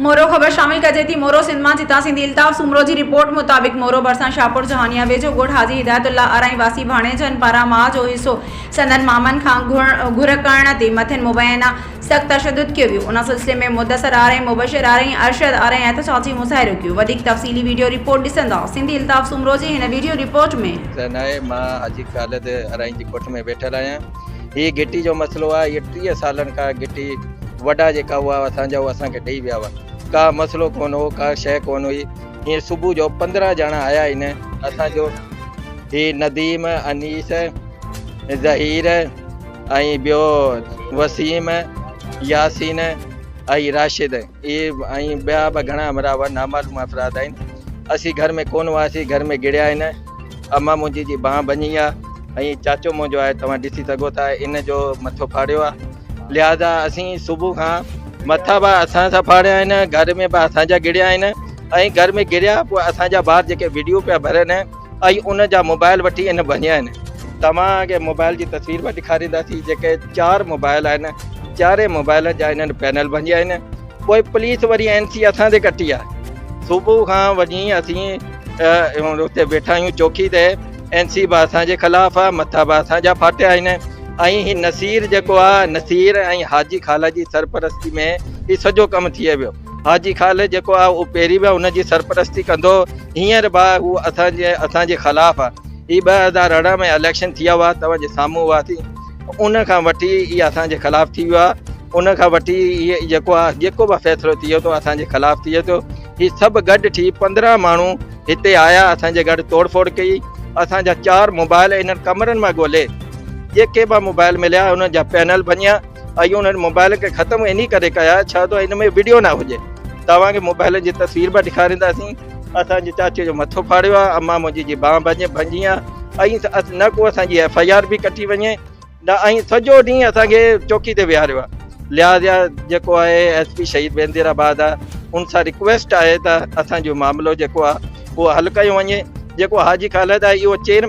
مورو خبر شامل ڪجي ٿي مورو سنڌ مان جتان سنڌي الطاف سومرو جي رپورٽ مطابق مورو ڀرسان شاهپور جهانيان ويجهو ڳوٺ حاجي هدايت الله ارائين واسي ڀاڻيجن پاران ماء جو حصو سندن مامن کان گهر ڪرڻ تي مٿين مبينا سخت تشدد ڪيو ويو ان سلسلي ۾ مدثر ارائين مبشر ارائين ارشد ارائين احتجاج جي مظاهرو ڪيو وڌيڪ تفصيلي وڊيو رپورٽ ڏسندا سنڌي الطاف سومرو جي هن وڊيو رپورٽ ۾ ڪا ناهي مان حاجي خالد ارائين جي ڳوٺ ۾ ويٺل آهيان. هي گهٽي جو مسئلو آهي هي ٽيهه سالن کان گهٽي وڏا جيڪا هئا اسان جا اسانکي ڏئي ويا هئا ڪا مسئلو ڪون هو ڪا شيء ڪون هئي هي صبح جو پندرهن ڄڻا آيا آهن اسان جو هي نديم انيس ظهير ۽ ٻيو وسيم ياسين ۽ راشد اهي ۽ ٻيا به گهڻا همراهه نامعلوم افراد آهن. اسين گهر ۾ ڪونه هئاسين، گهر ۾ گهڙيا آهن. امان منهنجي جي بانهن ڀڃي آهي ۽ چاچو منهنجو آهي توهان ڏسي سگهو ٿا ان جو مٿو ڦاڙيو آهي لهذا اسين صبح کان مٿا به اسان سان ڦاڙيا آهن، گهر ۾ به اسان جا گهڙيا آهن ۽ گهر ۾ گهڙيا پوء اسان جا ٻار جيڪي وڊيو پيا ڀرن ۽ ان جا موبائل وٺي ان ڀڃيا آهن. توهان کي موبائل جي تصوير به ڏيکارينداسين جيڪي چار موبائل آهن چارئي موبائلن جا انهن پينل ڀڃيا آهن پوء پوليس وري اين سي اسان تي ڪٽي آهي صبح کان وڃي اسين اتي ويٺا آهيون چوڪي تي اين سي به اسان جي خلاف آهي مٿا به اسان جا ڦاٽيا آهن ۽ هي نصير جيڪو آهي نصير ۽ حاجي خالا جي سرپرستي ۾ هي سڄو ڪم ٿئي ويو حاجي خالد جيڪو آهي اهو پهرين به هن جي سرپرستي ڪندو هينئر به آهي هو اسان جي اسان جي خلاف آهي هي ٻه هزار ارڙهن ۾ اليڪشن ٿيا هئا توهان جي سامهون هئا ٿي ان کان وٺي هي اسان جي خلاف ٿي ويو آهي ان کان وٺي هي جيڪو آهي جيڪو به فيصلو ٿئي ٿو اسان جي خلاف ٿئي ٿو هي سڀ گڏ ٿي پندرهن ماڻهو هتي آيا اسان جي گھر توڙ ڦوڙ ڪئي اسان جا چار موبائل انهن ڪمرن مان ڳولي جيڪي به موبائل مليا انهن جا پينل ڀڃيا ايون انهن موبائل کي ختم انهي ڪري ڪيا ڇا ته ان ۾ وڊيو نه هجي توهان کي موبائل جي تصوير به ڏيکارينداسين اسان جي چاچي جو مٿو ڦاڙيو آهي امان منهنجي جي بانهه ڀڃي ڀڃي آهي ۽ نه ڪو اسان جي ايف آء آر به ڪٽي وڃي نه ۽ سڄو ڏينهن اسان کي چوڪي تي ويهاريو آهي لهٰذا جيڪو آهي ايس پي شهيد بيندير آباد آهي ان سان رڪويسٽ آهي ته اسان جو معاملو جيڪو آهي اهو حل ڪيو وڃي جيڪو حاجي خالد آهي اهو چين